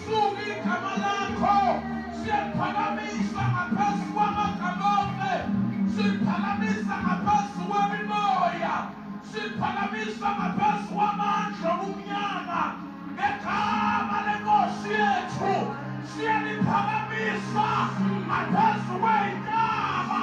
Suka igama lakho siyaphakamisa ngaphezu kwamagama onke siphakamisa ngaphezu kwemimoya siphakamisa ngaphezu kwamandla obumnyama ngegama lenkosi yethu siyaliphakamisa ngaphezu kweyintaba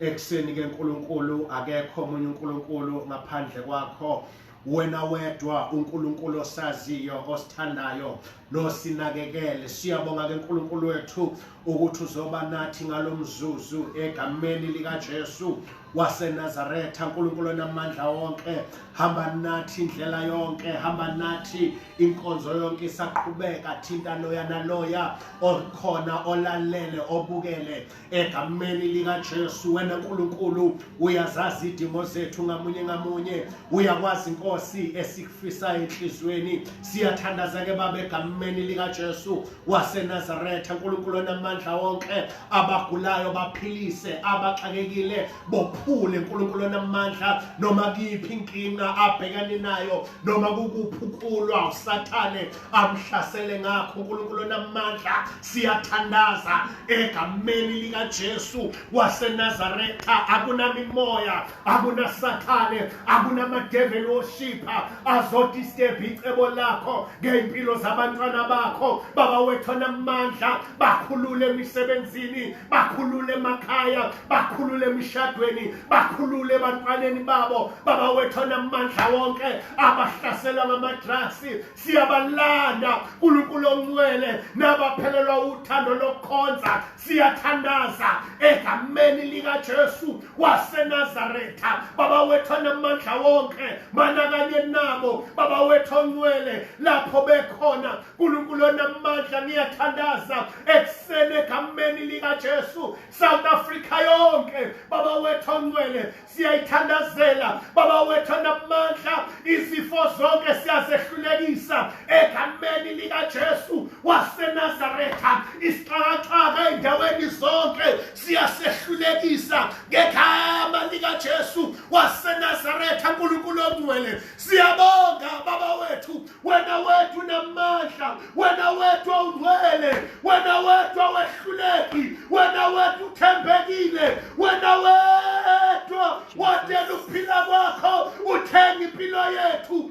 ekuseni ke Nkulunkulu akekho omunye uNkulunkulu ngaphandle kwakho wena wedwa uNkulunkulu osaziyo osithandayo nosinakekele siyabonga ke Nkulunkulu wethu ukuthi uzoba nathi ngalomzuzu egameni lika Jesu waseNazaretha uNkulunkulu onamandla wonke hamba nathi indlela yonke hamba nathi inkonzo yonke isaqhubeka thinta loya naloya okhona olalele obukele egameni likaJesu wena Nkulunkulu uyazazi idingo zethu ngamunye ngamunye uyakwazi inkosi esikufisa enhlizweni siyathandaza ke baba egameni likaJesu waseNazaretha Nkulunkulu onamandla wonke abagulayo baphilise abaxakekile bophule Nkulunkulu onamandla noma kuyiphi inkinga abhekane nayo noma kukuphukulwa usathane akuhlasele ngakho uNkulunkulu onamandla siyathandaza egameni likaJesu waseNazaretha akunamimoya akunasathane akunamadeveli oshipha azodisturb icebo lakho ngey'mpilo zabantwana bakho baba wethu onamandla bakhulule emisebenzini bakhulule emakhaya bakhulule emishadweni bakhulule ebantwaneni babo baba wethu onamandla wonke abahlaselwa ngamadrasi siyabalanda nkulunkulu ongcwele nabaphelelwa uthando lokukhonza siyathandaza egameni likajesu wasenazaretha baba wethu anamandla wonke manakanye nabo baba wethu ongcwele lapho bekhona nkulunkulu onamandla ngiyathandaza ekuseni egameni likajesu south africa yonke baba wethu ongcwele siyayithandazela baba wethu anamandla izifo zonke siyazehlulekisa egameni likaJesu waseNazaretha isixakaxaka endaweni zonke siyasehlulekisa ngegama likaJesu waseNazaretha uNkulunkulu ongcwele siyabonga baba wethu wena wethu namandla wena wethu awungcwele wena wethu awehluleki wena wethu uthembekile wena wedwa watela ukuphila kwakho uthenga impilo yethu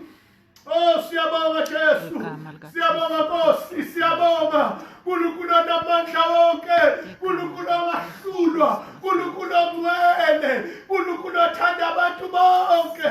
Oh siyabonga Jesu. Siyabonga Nkosi, siyabonga. Nkulunkulu onamandla wonke, Nkulunkulu ongahlulwa, Nkulunkulu ongcwele, Nkulunkulu othanda abantu bonke.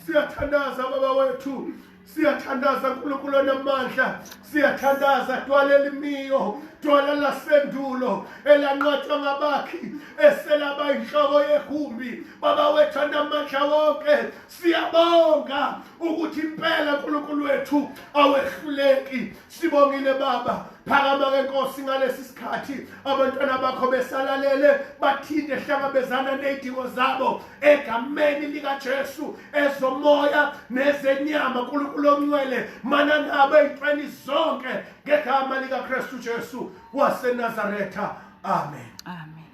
siyathandaza baba wethu siyathandaza nkulunkulu onamandla siyathandaza twala elimiyo twala lasendulo elanqotshwa ngabakhi eselaba inhloko yegumbi baba wethu anamandla wonke siyabonga ukuthi impela nkulunkulu wethu awehluleki sibongile baba phakama-ke nkosi ngalesi sikhathi abantwana bakho besalalele bathinte hlangabezana ney'dingo zabo egameni likaJesu ezomoya nezenyama uNkulunkulu ongcwele manangabe eyintweni zonke ngegama likaKristu Jesu waseNazaretha amen amen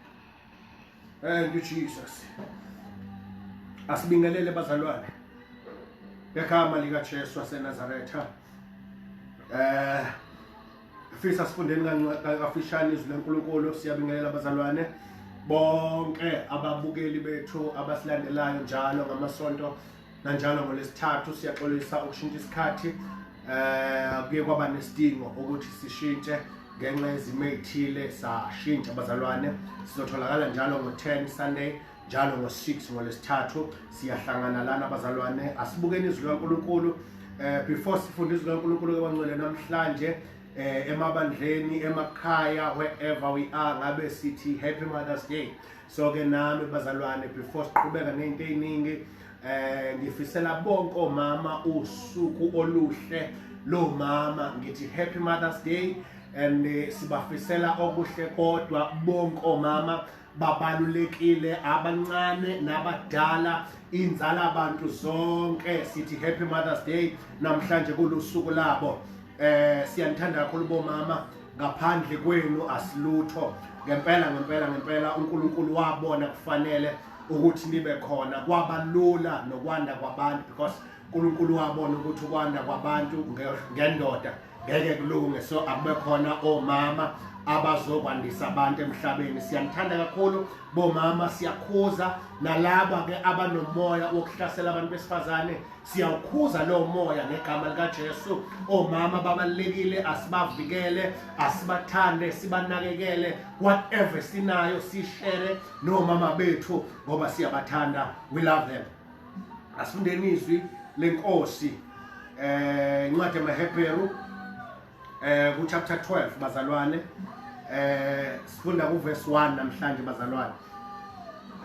thank you Jesus asibingelele bazalwane ngegama likaJesu waseNazaretha eh Fisa sifundeni kafishane izwi lenkulunkulu siyabingelela abazalwane bonke ababukeli bethu abasilandelayo njalo ngamasonto nanjalo ngolesithathu siyaxolisa ukushintsha isikhathi eh kuye kwaba nesidingo ukuthi sishintshe ngenxa yezimo ezithile sashintsha abazalwane sizotholakala njalo ngo-10 Sunday njalo ngo-6 ngolwesithathu siyahlangana lana abazalwane asibukeni izwi likankulunkulu um before sifunde izwi likankulunkulu kabancwele namhlanje um emabandleni emakhaya wherever we are ngabe sithi happy mothers day so-ke nami bazalwane before siqhubeka ney'nto ey'ningi um ngifisela bonke omama usuku oluhle lomama ngithi happy mothers day and eh, sibafisela okuhle kodwa bonke omama babalulekile abancane nabadala inzala abantu zonke sithi happy mothers day namhlanje kulusuku labo eh siyanithanda kakhulu bomama ngaphandle kwenu asilutho ngempela ngempela ngempela uNkulunkulu wabona kufanele ukuthi nibe khona kwabalula nokwanda kwabantu because uNkulunkulu wabona ukuthi ukwanda kwabantu ngendoda ngeke kulunge so akube khona omama abazokwandisa abantu emhlabeni siyanithanda kakhulu bomama siyakhuza nalaba ke abanomoya wokuhlasela abantu besifazane siyawukhuza lowo moya ngegama likaJesu omama babalekile asibavikele asibathande sibanakekele whatever sinayo sishere nomama bethu ngoba siyabathanda we love them asifundeni izwi lenkosi eh incwadi yamaHebheru eh ku chapter 12 bazalwane eh sifunda ku verse 1 namhlanje bazalwane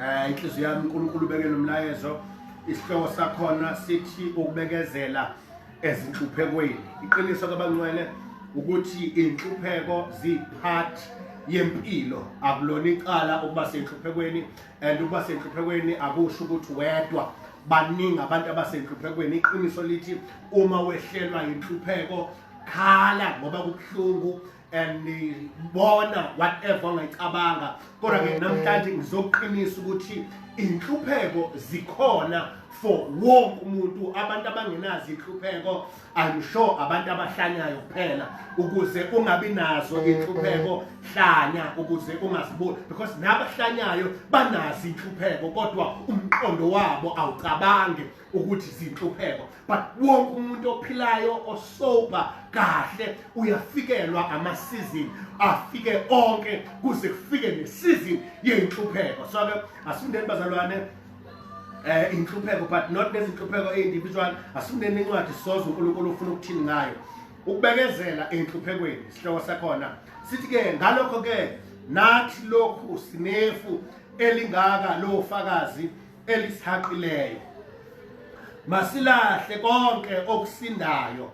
eh inhliziyo yami uNkulunkulu ubekele umlayezo isihloko sakhona sithi ukubekezela ezinhluphekweni iqiniso kabancwele ukuthi inhlupheko ziphathi yempilo akulona icala ukuba senhluphekweni and ukuba senhluphekweni akusho ukuthi wedwa baningi abantu abasenhluphekweni iqiniso lithi uma wehlelwa yinhlupheko khala ngoba kubuhlungu and bona whatever ongayicabanga kodwa ke namhlanje ngizoqinisa ukuthi inhlupheko zikhona for wonke umuntu abantu abangenazi inhlupheko I'm sure abantu abahlanyayo kuphela ukuze ungabi nazo inhlupheko hlanya ukuze ungaziboni because nabahlanyayo banazi inhlupheko kodwa umqondo wabo awucabange ukuthi zinhlupheko but wonke umuntu ophilayo osober kahle uyafikelwa amasizini afike onke kuze kufike nesizini yenhlupheko so ke asindeni bazalwane eh inhlupheko but not nezinhlupheko individual asimnene incwadi sozo uNkulunkulu ufuna ukuthini ngayo ukubekezela enhluphekweni isihloko sakhona sithi ke ngalokho ke nathi lokhu sinefu elingaka lo fakazi elisihaqileyo masilahle konke okusindayo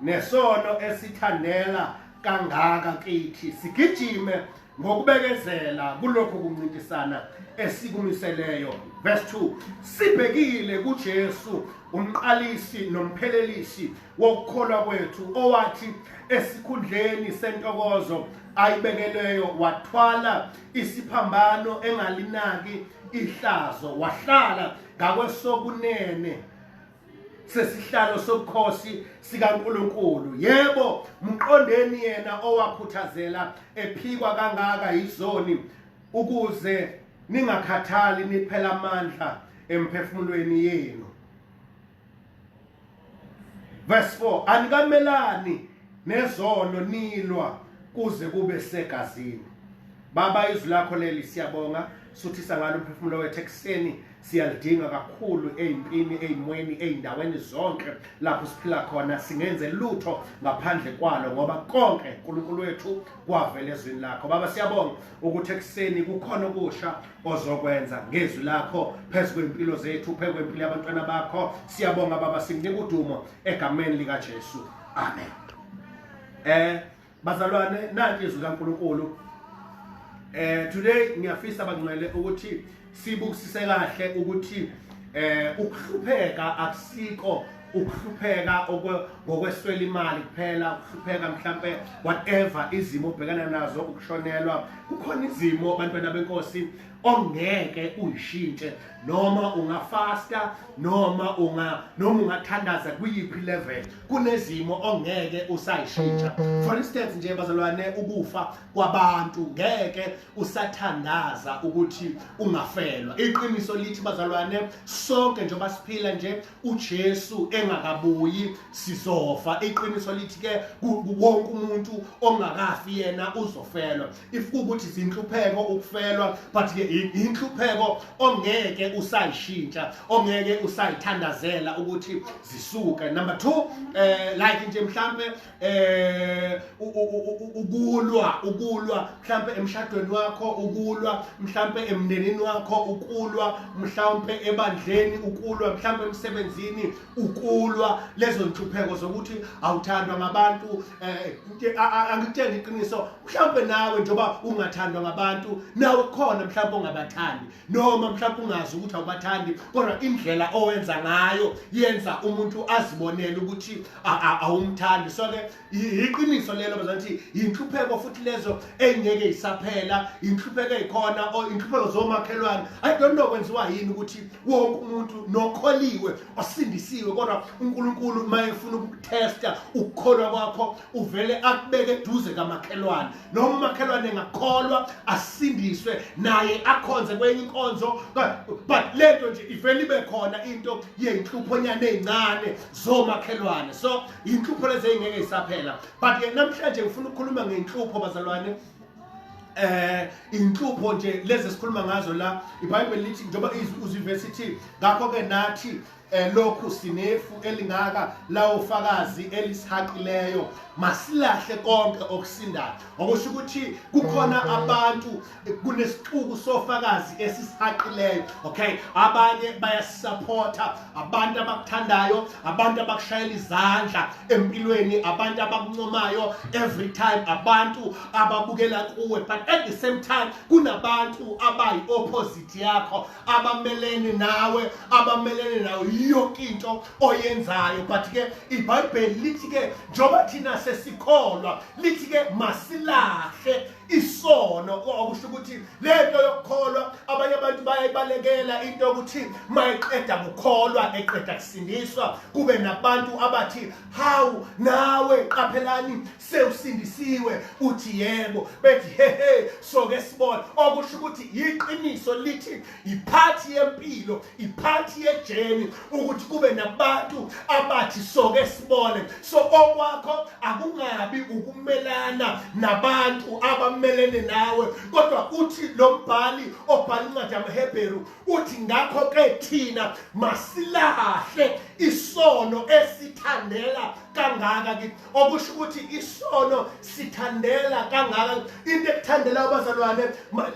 nesono esithandela kangaka kithi sigijime ngokubekezela kulokho kuncintisana esikumiseleyo verse 2 sibhekile kuJesu umqalisi nomphelelisi wokukholwa kwethu owathi esikhundleni sentokozo ayibekelweyo wathwala isiphambano engalinaki ihlazo wahlala ngakwesokunene sesihlalo sobukhosi sikaNkuluNkulu yebo mqondeni yena owakhuthazela ephikwa kangaka yizoni ukuze ningakhathali niphela amandla emphefumulweni yenu verse 4 anikamelani nezono nilwa kuze kube segazini Baba izwi lakho leli siyabonga suthisa ngalo umphefumulo wethu ekuseni siyalidinga kakhulu ezimpini ezimweni ezindaweni zonke lapho siphila khona singenze lutho ngaphandle kwalo ngoba konke uNkulunkulu wethu kwavela ezwini lakho baba siyabonga ukuthi ekuseni kukhona okusha ozokwenza ngezwi lakho phezulu kwempilo zethu phezulu kwempilo yabantwana bakho siyabonga baba sikunika udumo egameni lika Jesu amen eh bazalwane nanti izwi kaNkuluNkulu eh today ngiyafisa bangcwele ukuthi sibukisise kahle ukuthi eh ukuhlupheka akusiko ukuhlupheka ngokweswela imali kuphela ukuhlupheka mhlambe whatever izimo obhekana nazo ukushonelwa kukhona izimo abantwana benkosi ongeke uyishintshe noma ungafasta noma unga noma ungathandaza kuyiphi level kunezimo ongeke usayishintsha for instance nje bazalwane ukufa kwabantu ngeke usathandaza ukuthi ungafelwa iqiniso lithi bazalwane sonke njengoba siphila nje uJesu engakabuyi sizofa iqiniso lithi ke wonke umuntu ongakafi yena uzofelwa if kukuthi sinhlupheko ukufelwa but ke inhlupheko ongeke usayishintsha ongeke usayithandazela ukuthi zisuke number 2 eh like nje mhlambe eh ukulwa ukulwa mhlambe emshadweni wakho ukulwa mhlambe emndenini wakho ukulwa mhlambe ebandleni ukulwa mhlambe emsebenzini ukulwa lezo nhlupheko zokuthi awuthandwa ngabantu eh, eh, angikutshela iqiniso mhlawumbe nawe njengoba ungathandwa ngabantu nawe khona mhlawumbe ongabathandi noma mhlawumbe ungazi ukuthi awubathandi kodwa indlela owenza ngayo yenza umuntu azibonele ukuthi awumthandi so ke yiqiniso lelo bazanthi yinhlupheko futhi lezo engeke isaphela inhlupheko ezikhona or inhlupheko zomakhelwane i don't know kwenziwa yini ukuthi wonke umuntu nokholiwe osindisiwe kodwa uNkulunkulu mayefuna ukutesta ukukholwa kwakho uvele akubeke eduze kamakhelwane noma umakhelwane engakholwa asindiswe naye akhonze kwenye inkonzo but lento nje ivele ibe khona into yenhluphonyane ezincane zomakhelwane so inhlupho lezi engeke isaphela but ke namhlanje ngifuna ukukhuluma ngenhlupho bazalwane eh inhlupho nje lezi sikhuluma ngazo la iBhayibheli lithi njengoba uzivesi ithi ngakho ke nathi eh, lokhu sinefu elingaka lawo fakazi elisihaqileyo masilahle konke okusindayo okusho ukuthi kukhona abantu kunesixuku sofakazi esisihaqileyo okay abanye bayasupporta abantu abakuthandayo abantu abakushayela izandla empilweni abantu abakuncomayo every time abantu ababukela kuwe but at the same time kunabantu abayi opposite yakho abamelene nawe abamelene nawe yonke into oyenzayo but ke ibhayibheli lithi ke njengoba thina sesikholwa lithi ke masilahle isono okusho ukuthi lento yokukholwa abanye abantu bayayibalekela into yokuthi mayiqeda kukholwa eqeda kusindiswa kube nabantu abathi hawu nawe qaphelani sewusindisiwe uthi yebo bethi hehe soke sibona okusho ukuthi yiqiniso lithi iphathi yempilo iphathi yejeni ukuthi kube nabantu abathi soke sibone so okwakho akungabi ukumelana nabantu abamelene nawe kodwa uthi lo mbhali obhala incwadi yamahebheru uthi ngakho-ke thina masilahle isono esithandela kangaka okusho ukuthi isono sithandela kangaka into ekuthandela abazalwane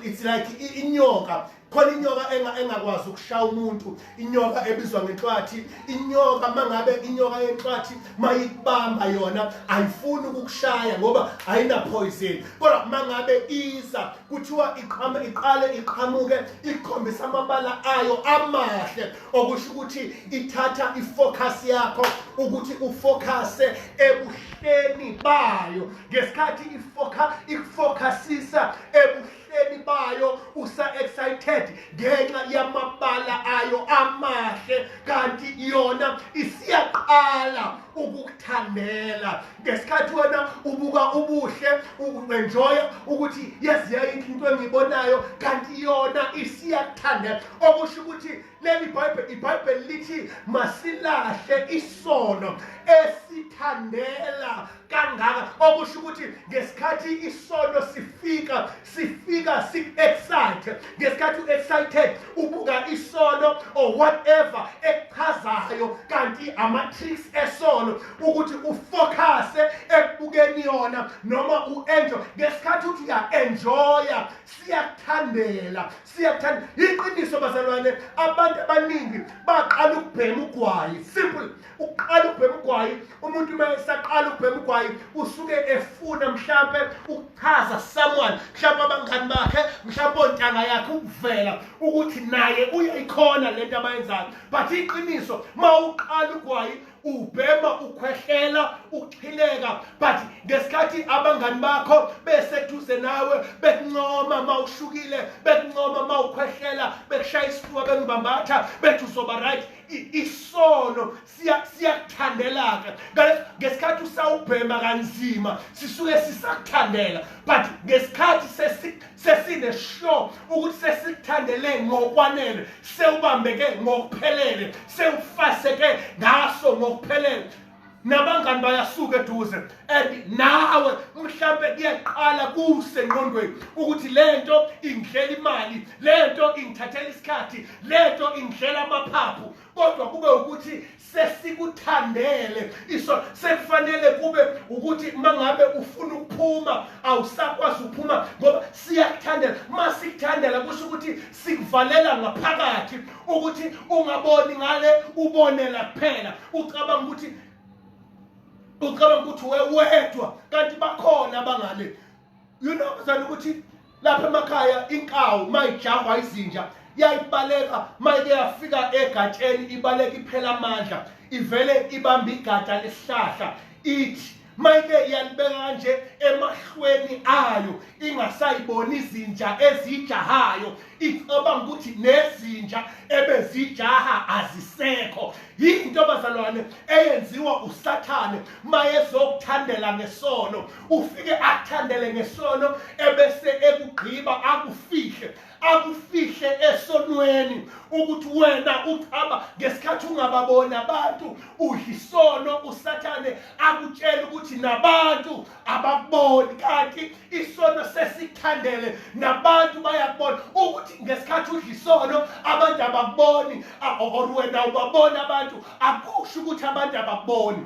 it's like inyoka khona inyoka engakwazi ukushaya umuntu inyoka ebizwa ngenhlwathi inyoka mangabe inyoka yenhlwathi mayikubamba yona ayifuni ukukushaya ngoba ayinapoison kodwa mangabe iza kuthiwa iqhame iqale iqhamuke ikhombisa amabala ayo amahle okusho ukuthi ithatha ifocus yakho ukuthi ufocuse ebuhleni bayo ngesikhathi ifoka ikufocusisa ebuhleni bayo usa excited ngenxa yamabala ayo amahle kanti yona isiyaqala ukukuthandela ngesikhathi wena ubuka ubuhle uenjoya ukuthi yes yayinhle into engiyibonayo kanti yona isiyakuthandela okusho ukuthi leli bhayibheli ibhayibheli lithi masilahle isono esithandela kangaka okusho ukuthi ngesikhathi isono sifika sifika si-excite ngesikhathi u-excited ubuka isono or whatever ekuchazayo kanti ama-tricks esono ukuthi ufocuse ekubukeni yona noma u-enjoy ngesikhathi uthi uya-enjoya siyakuthandela siyakuthanda yiqiniso bazalwane abantu abaningi baqala ukubhema ugwayi simple uqala ukubhema ugwayi umuntu uma esaqala ukubhema ugwayi usuke efuna mhlampe ukuchaza someone mhlampe abangani bakhe mhlampe ontanga yakhe ukuvela ukuthi naye uyayikhona lento abayenzayo but iqiniso uma uqala ugwayi ubhema ukhwehlela uxhileka but ngesikhathi abangani bakho beseduze nawe bekuncoma uma ushukile bekuncoma uma ukhwehlela bekushaya isifuba bekubambatha bethi uzoba right isono siyakuthandelaka ngesikhathi usawubhema kanzima sisuke sisakuthandela but ngesikhathi sesinesure ukuthi sesikuthandele ngokwanele sewubambeke ngokuphelele sewufaseke ngaso ngokuphelele nabangani bayasuka eduze and nawe mhlampe kuyaqala kusengqondweni ukuthi lento ingidlela imali lento ingithathela isikhathi lento ingidlela amaphaphu kodwa kube ukuthi sesikuthandele iso sekufanele kube ukuthi mangabe ufuna ukuphuma awusakwazi ukuphuma ngoba siyakuthandela masikuthandela kusho ukuthi sikuvalela ngaphakathi ukuthi ungaboni ngale ubonela kuphela ucabanga ukuthi ucabanga ukuthi wewedwa kanti bakhona abangale you know mzana ukuthi lapha emakhaya inkawu mayijahwa izinja yayibaleka mayike yafika egatsheni ibaleka iphela amandla ivele ibamba igada lesihlahla ithi mayike iyalibeka kanje emahlweni ayo ingasayiboni izinja ezijahayo icabanga ukuthi nezinja ebezijaha azisekho yinto bazalwane eyenziwa usathane mayezokuthandela ngesono ufike akuthandele ngesono ebese ekugqiba akufihle akufihle esonweni ukuthi wena uchaba ngesikhathi ungababoni abantu uyisono usathane akutshela ukuthi nabantu abakuboni kanti isono sesithandele nabantu bayakubona ukuthi ngesikhathi udla isono abantu abakuboni or wena ubabona abantu akusho ukuthi abantu abakuboni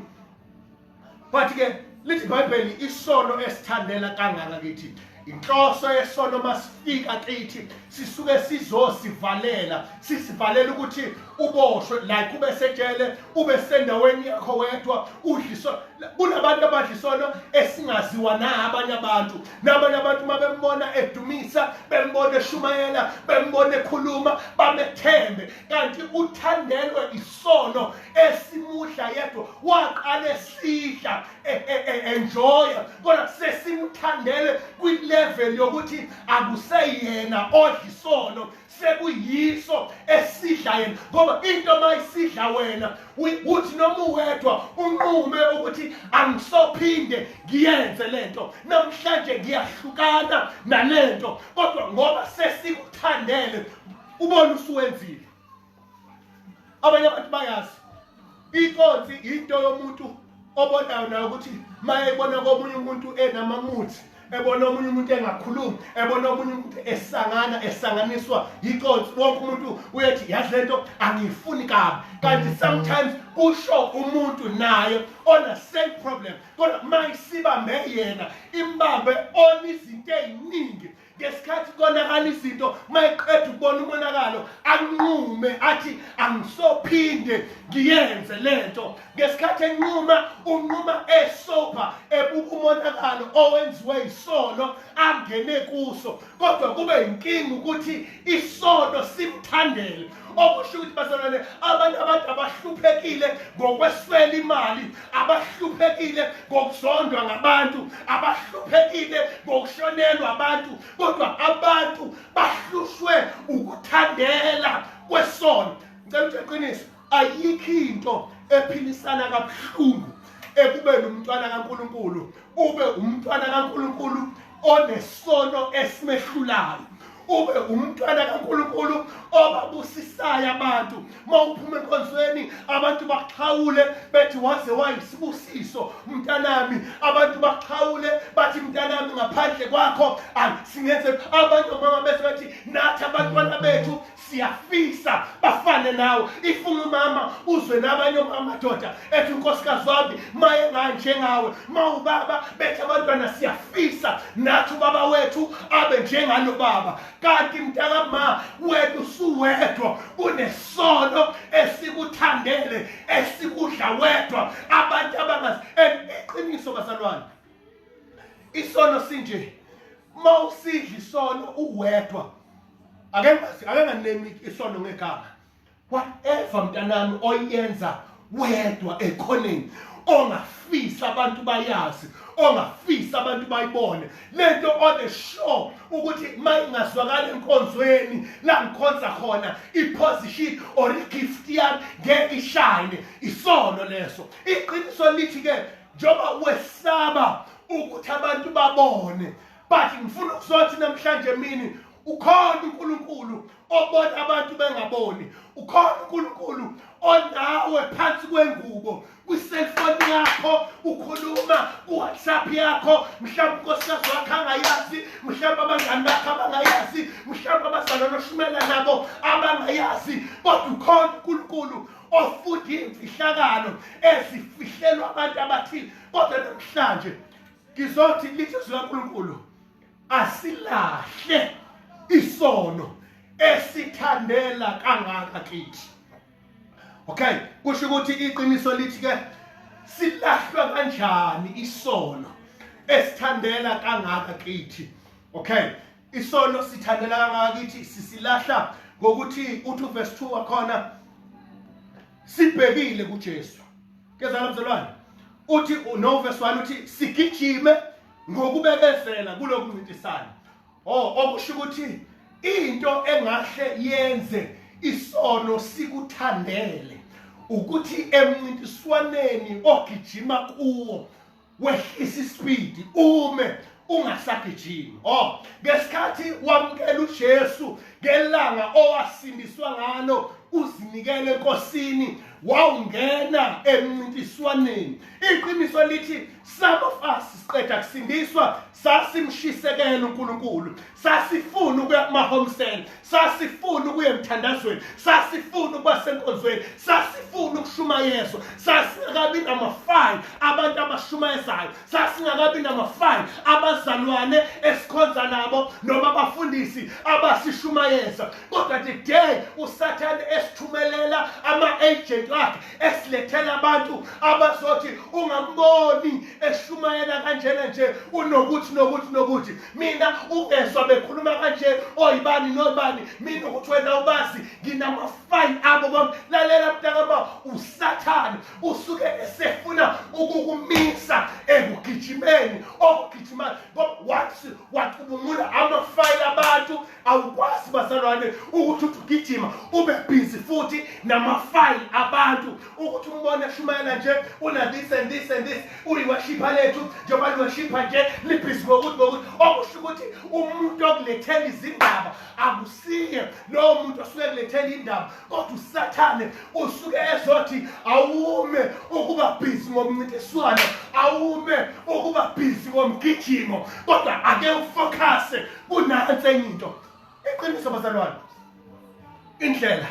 but ke lithi ibhayibheli isono esithandela kangaka kithi inhloso yesono masifika kithi sisuke sizosivalela sisivalela ukuthi uboshwe like ube sejele ube sendaweni yakho wedwa udliso kunabantu abadlisono esingaziwa na abanye abantu nabanye abantu uma bembona edumisa bembona eshumayela bembona ekhuluma bamethembe kanti uthandelwe sono esimudla yedwa waqala esidla e, e, e, enjoya kodwa sesimthandele kwilevel yokuthi akuseyena odla isono sekuyiso esidla yena ngoba into uma isidla wena uthi noma uwedwa unqume ukuthi angisophinde ngiyenze le nto namhlanje ngiyahlukana nale nto kodwa ngoba sesikuthandele ubona usuwenzile abanye abantu bayazi inkonzi into yomuntu obonayo nayo ukuthi mayebona komunye umuntu enamamuthi ebona omunye umuntu engakhulumi ebona omunye umuntu esangana esanganiswa yiconsi wonke umuntu uyethi yazi lento angiyifuni kabi kanti sometimes kusho umuntu naye ona same problem kodwa mayisibambe yena imbambe ona izinto eziningi ngesikhathi konakala izinto mayeqeda ukubona umonakalo anqume athi angisophinde ngiyenze lento ngesikhathi enquma unquma esopa ebuka umonakalo owenziwe isono angene kuso kodwa kube inkinga ukuthi isono simthandele okusho ukuthi bazalwane abantu abantu abahluphekile ngokweswela imali abahluphekile ngokuzondwa ngabantu abahluphekile ngokushonelwa abantu kodwa abantu bahlushwe ukuthandela kwesono ngicela ukuthi eqiniso ayikho into ephilisana kabuhlungu ekubeni umntwana kaNkuluNkulu ube umntwana kaNkuluNkulu onesono esimehlulayo ube umntwana kaNkulunkulu obabusisayo abantu mawuphuma enkonzweni abantu baxhawule bethi waze wayisibusiso mntanami abantu baxhawule bathi mntanami ngaphandle kwakho singenze abantu mama bese bathi nathi abantwana bethu siyafisa bafane nawe ifuna umama uzwe nabanye amadoda ethi unkosikazi wami maye nganjengawe ma ubaba bethe abantwana siyafisa nathi ubaba wethu abe njengalo baba kanti mntakama wethu suwedwa unesono esikuthandele esikudla wedwa abantu abangazi iqiniso bazalwane isono sinje ma usidla isono uwedwa ake ake nganemi isono ngegama whatever mntanami oyenza wedwa ekhoneni ongafisa abantu bayazi ongafisa abantu bayibone lento on the show ukuthi mayingazwakala enkonzweni la ngikhonza khona iposition or igift yami ngeke ishine isono leso iqiniso lithi ke njengoba wesaba ukuthi abantu babone but ngifuna ukuzothi namhlanje emini ukhona uNkulunkulu obona abantu bengaboni ukhona uNkulunkulu onawe phansi kwengubo kwi-cellphone yakho ukhuluma ku-whatsapp yakho mhlawumbe unkosikazi wakho angayazi mhlawumbe abangani bakho abangayazi mhlawumbe abazalwane oshumela nabo abangayazi kodwa ukhona unkulunkulu ofunda iy'mfihlakalo ezifihlelwa abantu abathile kodwa namhlanje ngizothi lithi zikaNkulunkulu asilahle isono esithandela kangaka kithi okay kusho ukuthi iqiniso lithi ke silahlwa kanjani isono esithandela kangaka kithi okay isono sithandela kangaka kithi sisilahla ngokuthi uthi verse 2 wakhona sibhekile kuJesu kezala mzalwane uthi no verse 1 uthi sigijime ngokubekezela kuloku ncintisana oh okusho ukuthi into engahle yenze isono sikuthandele ukuthi emncintiswaneni ogijima kuwo wehlisa ispeed ume ungasagijimi oh ngesikhathi wamukela uJesu ngelanga owasindiswa ngalo uzinikele enkosini wawungena emncintiswaneni iqiniso lithi some of us siqeda kusindiswa sasimshisekela uNkulunkulu sasifuna ukuya kumahomsel sasifuna ukuya emthandazweni sasifuna ukuba senkonzweni sasifuna ukushumayezwa sasingakabi namafile abantu abashumayezayo sasingakabi namafile abazalwane esikhonza nabo noma abafundisi abasishumayeza kodwa the day usathane esithumelela ama-agent wakhe esilethela abantu abazothi ungamboni eshumayela kanjena nje unokuthi nokuthi nokuthi mina ungezwa bekhuluma kanje oyibani nobani mina ukuthi wena ubazi nginamafayini abo kwam lalela mntakama usathane usuke esefuna ukukumisa ekugijimeni okugijima once wacubungula amafayini abantu awukwazi bazalwane ukuthi uthi ugijima ube busy futhi namafayili abantu ukuthi umbone eshumayela nje una this and this and this uyiwashipha lethu njengoba liwashipha nje libhizi ngokuthi ngokuthi okusho ukuthi umuntu okulethela izindaba akusiye lowo muntu osuke kulethela indaba kodwa usathane usuke ezothi awume ukuba busy ngomncintiswano awume ukuba busy ngomgijimo kodwa ake ufocuse kunansi enye into iqiniso bazalwane indlela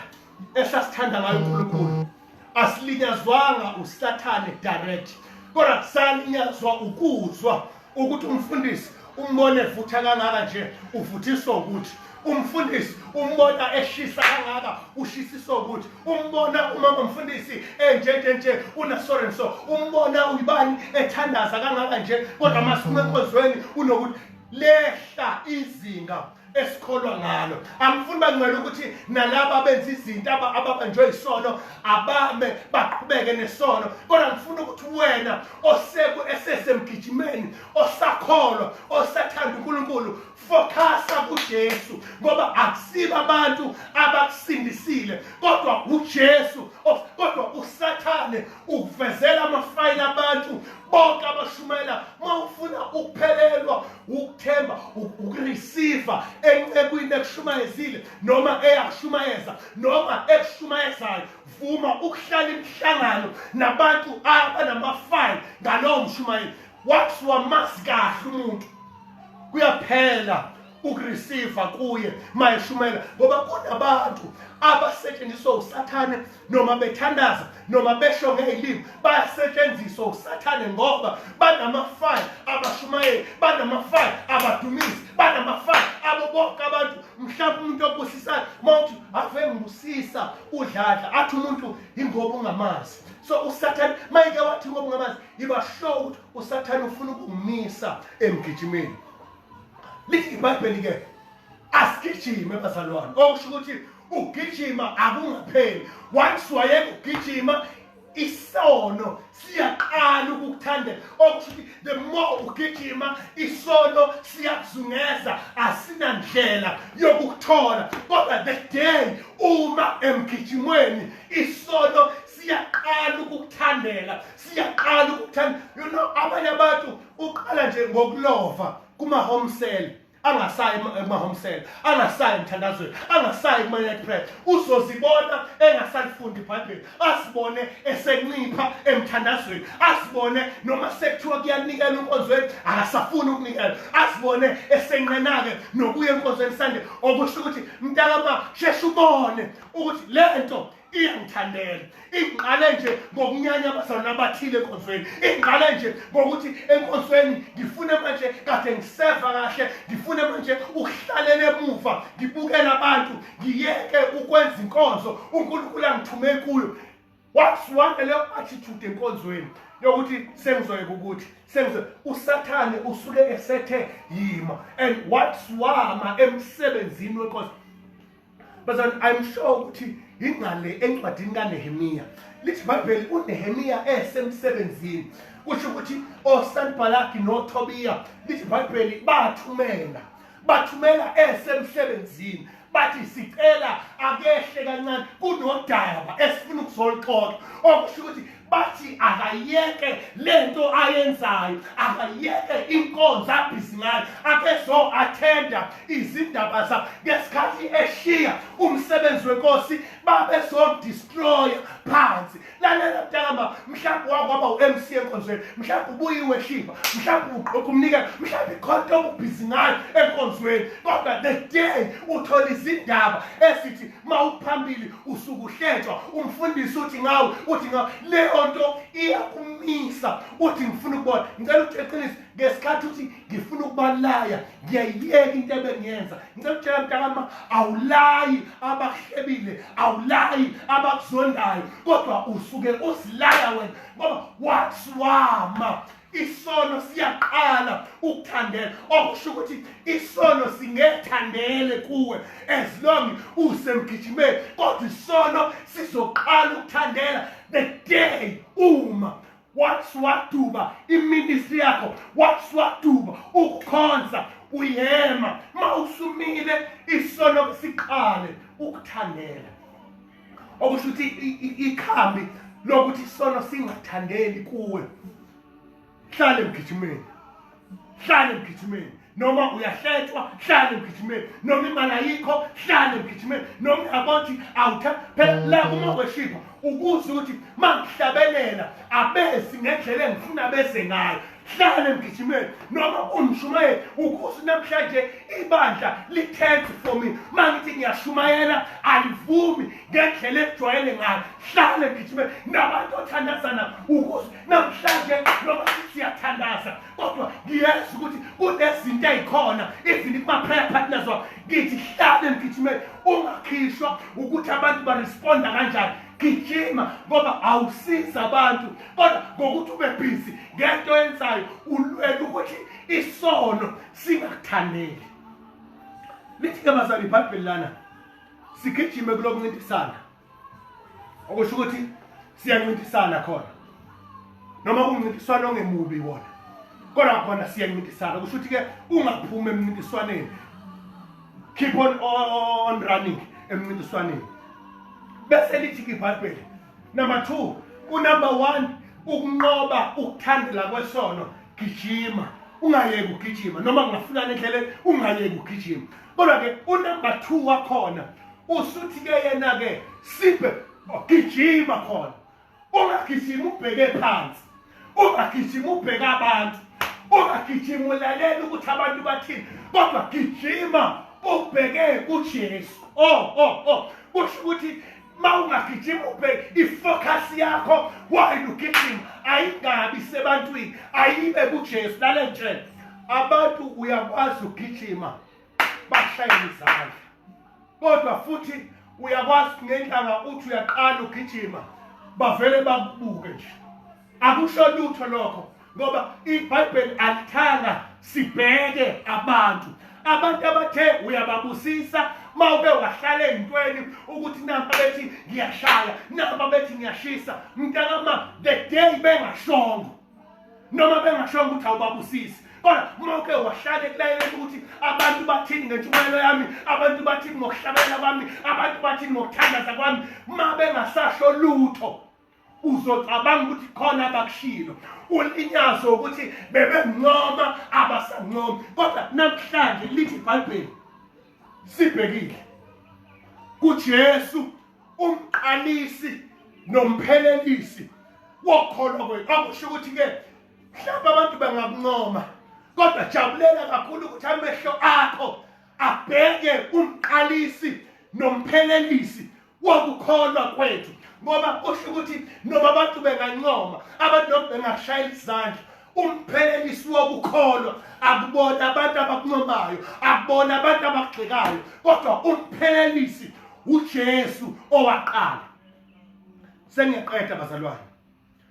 esasithanda ngayo unkulunkulu asilinyazwanga usathane direct kodwa salinyazwa ukuzwa ukuthi umfundisi umbone vutha kangaka nje uvuthiswa ukuthi umfundisi umbona eshisa kangaka ushisiso ukuthi umbona umama mfundisi enjenje nje unasorenso umbona uyibani ethandaza kangaka nje kodwa masume enkonzweni unokuthi lehla izinga esikholwa ngalo angifuni bangcwele ukuthi nalabo abenza izinto ababanjwe isono abame baqhubeke nesono kodwa ngifuna ukuthi wena oseku esesemgijimeni osakholwa osathanda uNkulunkulu focusa kuJesu ngoba akusiba abantu abakusindisile kodwa uJesu kodwa usathane ukuvezela amafayile abantu bonke abashumayela uma ufuna ukuphelelwa ukuthemba ukureceive encekwini ekushumayezile noma eyakushumayeza noma ekushumayezayo vuma ukuhlala imihlangano nabantu abanamafayile ngalowo mshumayeli wathi wamazi kahle umuntu kuyaphela ukureceiva kuye mayeshumela ngoba kunabantu abasetshenziswa usathane noma bethandaza noma besho ngeyilimi bayasetshenziswa usathane ngoba banamafaya abashumayeli banamafaya abadumisi banamafaya abo bonke abantu mhlawumbe umuntu obusisayo uma uthi ave ngibusisa udladla athi umuntu yingoba ungamazi so usathane mayike wathi ngoba ungamazi yiba sure ukuthi usathane ufuna ukumisa emgijimeni lithi ibhayibheli-ke asigijime bazalwane okusho ukuthi ugijima akungapheli once wayeke ugijima isono siyaqala ukukuthandela okusho ukuthi the more ugijima isono siyakuzungeza asinandlela yokukuthola kodwa the day uma emgijimweni isono siyaqala ukukuthandela siyaqala ukuthanda you know abanye abantu uqala nje ngokulova kuma-home cell angasayi kuma-home cell angasayi emthandazweni angasayi kuma-net press uzozibona engasalifundi ibhayibheli asibone esencipha emthandazweni asibone noma sekuthiwa kuyanikela enkonzweni akasafuni ukunikela asibone esenqena-ke nokuya enkonzweni sande okusho ukuthi mntakama sheshe ubone ukuthi le nto iyangithandela ingqale nje ngokunyanya abazalwane abathile enkonzweni ingqale nje ngokuthi enkonzweni ngifune manje kade ngiseva kahle ngifune manje ukuhlalela emuva ngibukela abantu ngiyeke ukwenza inkonzo unkulunkulu angithume kuyo wasuwanga leyo attitude enkonzweni yokuthi sengizoyeka ukuthi sengize usathane usuke esethe yima and wasuwama emsebenzini wenkonzo bazani i'm sure ukuthi yingale encwadini kanehemiya lithi ibhayibheli unehemiya esemsebenzini kusho ukuthi osanbalaki notobiya lithi ibhayibheli bathumela bathumela esemsebenzini bathi sicela akehle kancane kunodaba esifuna ukuzolixoxa okusho ukuthi bathi akayeke lento ayenzayo akayeke inkonzo abhizi ngayo akezo-athenda izindaba zabo ngesikhathi eshiya umsebenzi wenkosi babezodistroya phansi lalela mntakama mhlawumbe wakwaba u-m c enkonzweni mhlawumbe ubuyiwe shiva mhlawumbe uqokha umnikelo mhlawumbe ikhonto obubhizi ngayo enkonzweni kodwa the day uthola izindaba esithi uma uphambili usuke uhletshwa umfundisi uthi ngawe uthi ngawe leyo nto iyakumisa uthi ngifuna ukubona ngicela ukuthi eqinise ngesikhathi uthi ngifuna ukubalaya ngiyayiyeka into ebengiyenza ngicela ukutshela mntakama awulayi abakuhlebile awulayi abakuzondayo kodwa usuke uzilaya wena ngoba wathi wama isono siyaqala ukuthandela okusho ukuthi isono singethandele kuwe as long usemgijimeni kodwa isono sizoqala ukuthandela the day uma wathi waduba iministry yakho wathi waduba ukukhonza uyema ma usumile isono siqale ukuthandela okusho ukuthi ikhambi lokuthi isono singathandeli kuwe hlale emgijimeni hlale emgijimeni noma uyahletshwa hlale emgijimeni noma imali ayikho hlale emgijimeni noma uyabothi awutha phela la uma weshipa ukuze ukuthi mangihlabelela abesi ngendlela engifuna bese ngayo hlale mgijimeni noma umshumayeli ukuze namhlanje ibandla lithethe for me uma ngithi ngiyashumayela alivumi ngendlela ekujwayele ngayo hlale mgijimeni nabantu othandazana ukuze namhlanje noma siyathandaza kodwa ngiyazi ukuthi kunezinto ey'khona even kuma-prayer partners wabo ngithi hlale mgijimeni ungakhishwa ukuthi abantu baresponda kanjani gijima ngoba awusiza abantu kodwa ngokuthi ube busy ngento yenzayo ulwela ukuthi isono singakuthaneli lithi-ke bazali ibhayibheli lana sigijime kulokuncintisana okusho ukuthi siyancintisana khona noma kuncintiswana ongemubi wona kodwa khona siyancintisana kusho ukuthi-ke ungaphumi emncintiswaneni keep on, on running emncintiswaneni bese lithi-ke ibhayibheli number 2 unumber 1 ukunqoba ukuthandela kwesono gijima ungayeki ugijima noma kungafunana endleleni ungayeki ugijima kodwa-ke unumber two wakhona usuthi-ke yena-ke sibe gijima khona ungagijimi ubheke phansi ungagijima ubheka abantu ungagijima ulalela ukuthi abantu bathini kodwa gijima ubheke kujesu o oh, o oh, o oh. kusho ukuthi ma ungagijima ubheke ifocus yakho wayini ugijima ayingabi sebantwini ayibe kujesu lale ntshela abantu uyakwazi ugijima bashayela izandla kodwa futhi uyakwazi ngendlanga uthi uyaqala ugijima bavele bakubuke nje akusho lutho lokho ngoba ibhayibheli alithanga sibheke abantu abantu abathe uyababusisa mawuke wahlala ezintweni ukuthi namba bethi ngiyashaya namba bethi ngiyashisa mntakama the day bengashongo noma bengashonga ukuthi awubabusisi kodwa uma uke wahlale kulayela ukuthi abantu bathini ngentshumayelo yami abantu bathini ngokuhlabelela kwami abantu bathini ngokuthandaza kwami uma bengasasho lutho uzocabanga ukuthi khona abakushilo ulinyazwe ukuthi bebenqoma abasanqomi kodwa namhlanje lithi ibhayibheli sibhekile kujesu umqalisi nomphelelisi wokholo kwethu akusho ukuthi ke mhlawumbe abantu bangakuncoma kodwa jabulela kakhulu ukuthi amehlo akho abheke umqalisi nomphelelisi wokukholwa kwethu ngoba usho ukuthi noma abantu bengancoma abantu noma bengashayela izandla umphelelisi wokukholwa akubona abantu abakuncomayo akubona abantu abagxekayo kodwa umphelelisi uJesu owaqala sengiqeda bazalwane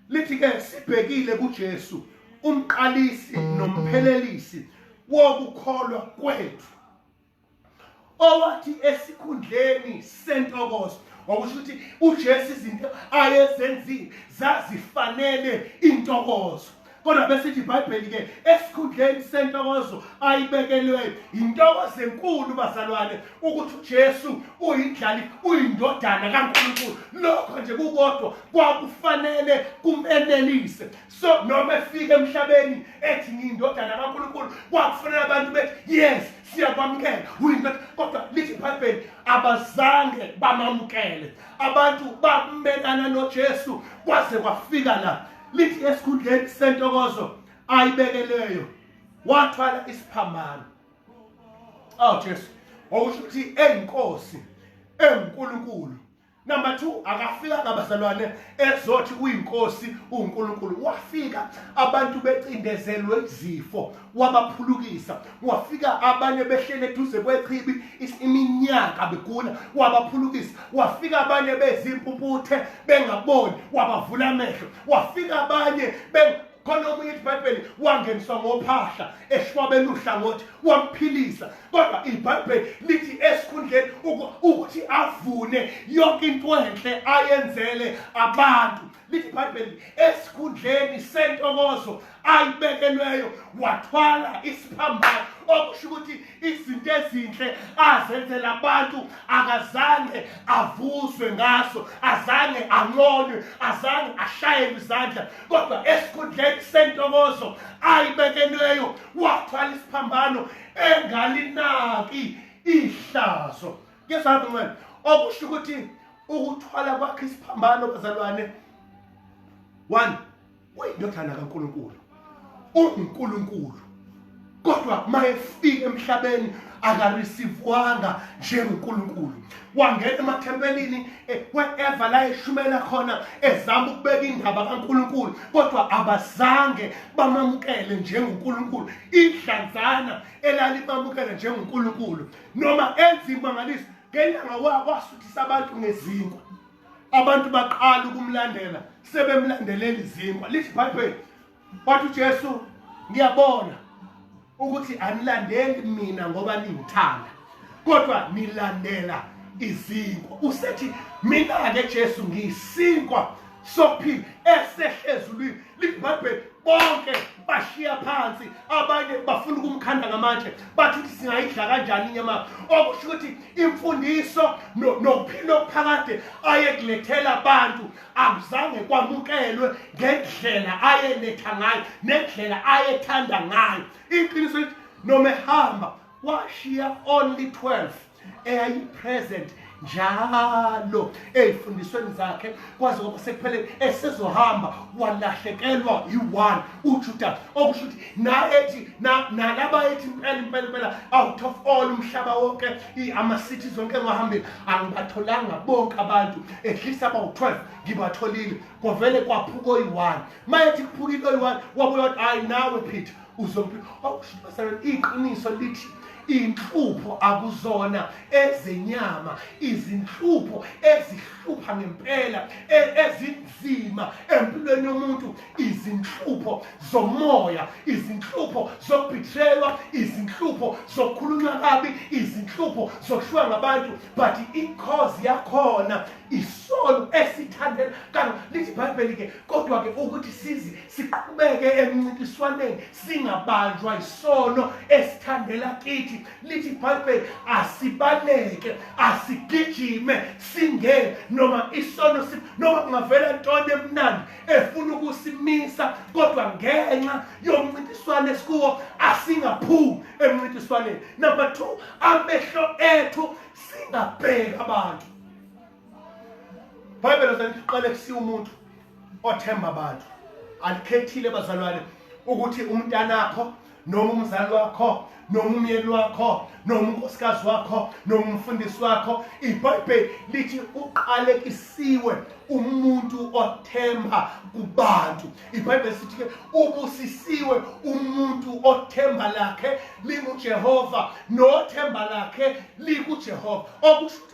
lithi ke sibhekile kuJesu umqalisi nomphelelisi wokukholwa kwethu owathi esikhundleni sentokozo ngokusho ukuthi uJesu izinto ayezenzile zazifanele intokozo kodwa bese ithi iBhayibheli ke esikhundleni sentokozo ayibekelweyo intokozo enkulu bazalwane ukuthi uJesu uyindlali uyindodana kaNkulunkulu lokho nje kukodwa kwakufanele kumenelise so noma efika emhlabeni ethi ngiyindodana kaNkulunkulu kwakufanele abantu bethi yes siyakwamukela uyindoda kodwa lithi ibhayibheli abazange bamamukele abantu bamelana nojesu kwaze kwafika la lithi esikhundleni sentokozo ayibekeleyo wathwala isiphambano awu jesu okusho ukuthi eyinkosi engunkulunkulu Number 2 akafika kabazalwane ezothi uyinkosi uNkulunkulu wafika abantu becindezelwe izifo wabaphulukisa wafika abanye behlele eduze kwechibi iminyaka begula wabaphulukisa wafika abanye bezimpumputhe bengaboni wabavula amehlo wafika abanye khona okunye ithi ibhayibheli wangeniswa ngophahla eshwabela uhlangothi wamphilisa kodwa ibhayibheli lithi esikhundleni ukuthi avune yonke into enhle ayenzele abantu lithi ibhayibheli esikhundleni sentokozo ayibekelweyo wathwala isiphambano okusho ukuthi izinto ezinhle azenzela abantu akazange avuswe ngaso azange anqonywe azange ashayelwe izandla kodwa esikhundleni sentokozo ayibekelweyo wathwala isiphambano engalinaki ihlazo ngesabi ncane okusho ukuthi ukuthwala kwakhe isiphambano bazalwane one uyindodana kaNkulunkulu unguNkulunkulu kodwa mayefika emhlabeni akarisivwanga njengoNkulunkulu wangena emathempelini eh, wherever la eshumela khona ezama ukubeka indaba kaNkulunkulu kodwa abazange bamamukele njengoNkulunkulu idlanzana elalimamukele njengoNkulunkulu noma enza imangaliso ngelanga wasuthisa abantu ngezinkwa abantu baqala ukumlandela sebemlandelela izinkwa lithi ibhayibheli wathi ujesu ngiyabona ukuthi anilandeli mina ngoba ningithanda kodwa nilandela izinkwa usethi mina-ke jesu ngiyisinkwa sokuphila esehlezulwini libhabhe bonke bashiya phansi abanye bafuna ukumkhanda ngamatshe bathi ukuthi singayidla kanjani inyama okusho ukuthi imfundiso nokuphila okuphakade ayekulethela abantu akuzange kwamukelwe ngendlela ayeletha ngayo nendlela ayethanda ngayo iqiniso noma ehamba washiya only 12 eyayipresent njalo ezifundisweni zakhe kwaze kwaba sekupheleni esezohamba walahlekelwa yi-one ujuda okusho ukuthi naethi nalaba ethi impela impela impela out of all umhlaba wonke ama-city zonke engahambile angibatholanga bonke abantu at least abawu-12 ngibatholile kwavele kwaphuka oyi-one ma ethi kuphukile oyi-one wabuya wathi hhayi nawe peter uzophila wawushumasana iqiniso lithi inhlupho akuzona ezenyama izinhlupho ezihlupha ngempela e- ezinzima empilweni yomuntu izinhlupho zomoya izinhlupho zokubithelwa izinhlupho zokukhulunywa kabi izinhlupho zokuhlwa ngabantu but inkozi yakhona isono esithandela kanti lithi ibhayibheli-ke kodwa-ke ukuthi size siqhubeke emncintiswaneni singabanjwa isono esithandela kithi lithi ibhayibheli asibaleke asigijime singene noma isono noma kungavela ntoni emnandi efuna ukusimisa kodwa ngenxa yomncintiswane esikuwo asingaphumi emncintiswaneni number two amehlo ethu singabheki abantu Bible says qale kusi umuntu othemba abantu alikhethile bazalwane ukuthi umntanakho noma umzali wakho noma umyeni wakho noma unkosikazi wakho noma umfundisi wakho ibhayibheli lithi uqalekisiwe umuntu othemba kubantu ibhayibheli sithi ke ubusisiwe umuntu othemba lakhe lingujehova nothemba lakhe likujehova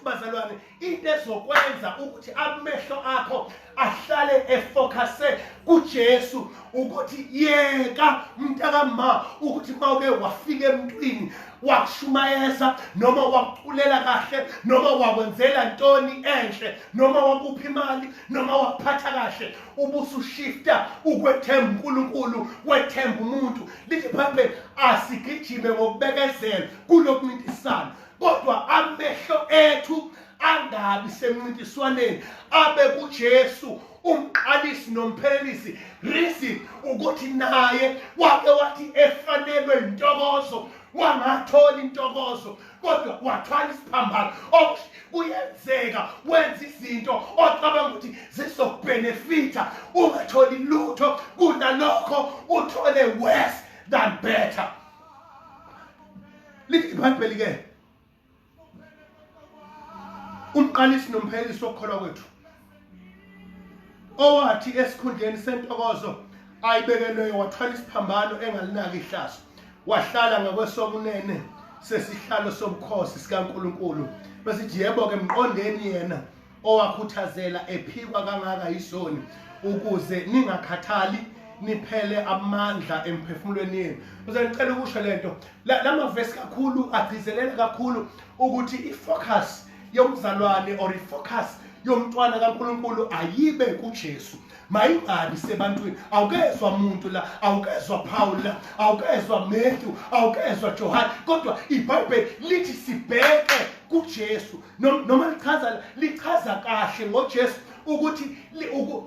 bazalwane into ezokwenza ukuthi amehlo akho ahlale efocuse kuJesu ukuthi yeka mntakamma ukuthi mawuke wafika emntwini wakushumayeza noma wakuculela kahle noma wakwenzela ntoni enhle noma wakupha imali noma wakuphatha kahle ubusushifta ukwethemba uNkulunkulu wethemba umuntu lithi phambe asigijime ngokubekezela kulokuncintisana kodwa amehlo ethu angabi semncintiswaneni abe kuJesu umqalisi nomphelelisi reason ukuthi naye wake wathi efanelwe intokozo wangathola intokozo kodwa wathwala isiphambano kuyenzeka wenza izinto ocabanga ukuthi zizokubhenefitha ungatholi lutho kunalokho uthole worse than better lithi ibhayibheli ke umqalisi nomphelisi wokukholwa kwethu owathi esikhundleni sentokozo ayibekelweyo wathwala isiphambano engalinaki ihlazo wahlala ngakwesokunene sesihlalo sobukhosi sikaNkuluNkulu besithi yebo ke mqondeni yena owakhuthazela ephikwa kangaka yisoni ukuze ningakhathali niphele amandla emphefumulweni yenu uze ngicela ukusho lento la mavesi kakhulu agcizelela kakhulu ukuthi i-focus yomzalwane or i-focus yomntwana kaNkuluNkulu ayibe kuJesu mayingabi sebantwini awukezwa muntu la awukezwa paul la awukezwa matthew awukezwa johane kodwa ibhayibheli lithi sibheke kujesu noma lichaza lichaza kahle ngojesu ukuthi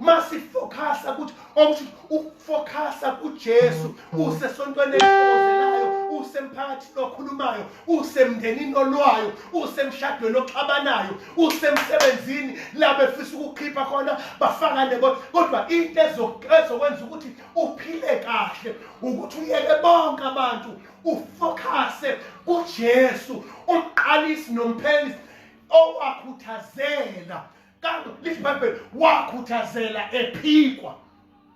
masifokhasa ukuthi okusho ukufokhasa kujesu usesontweni eliozelayo usemphakathini okhulumayo usemndenini olwayo usemshadweni oxabanayo usemsebenzini la befisa ukukhipha khona bafakane kodwa into ezokwenza ukuthi uphile kahle ukuthi uyeke bonke abantu ufokhase kujesu umqalisi nomphelisi owakhuthazela kanti lithi ibhayibheli wakhuthazela ephikwa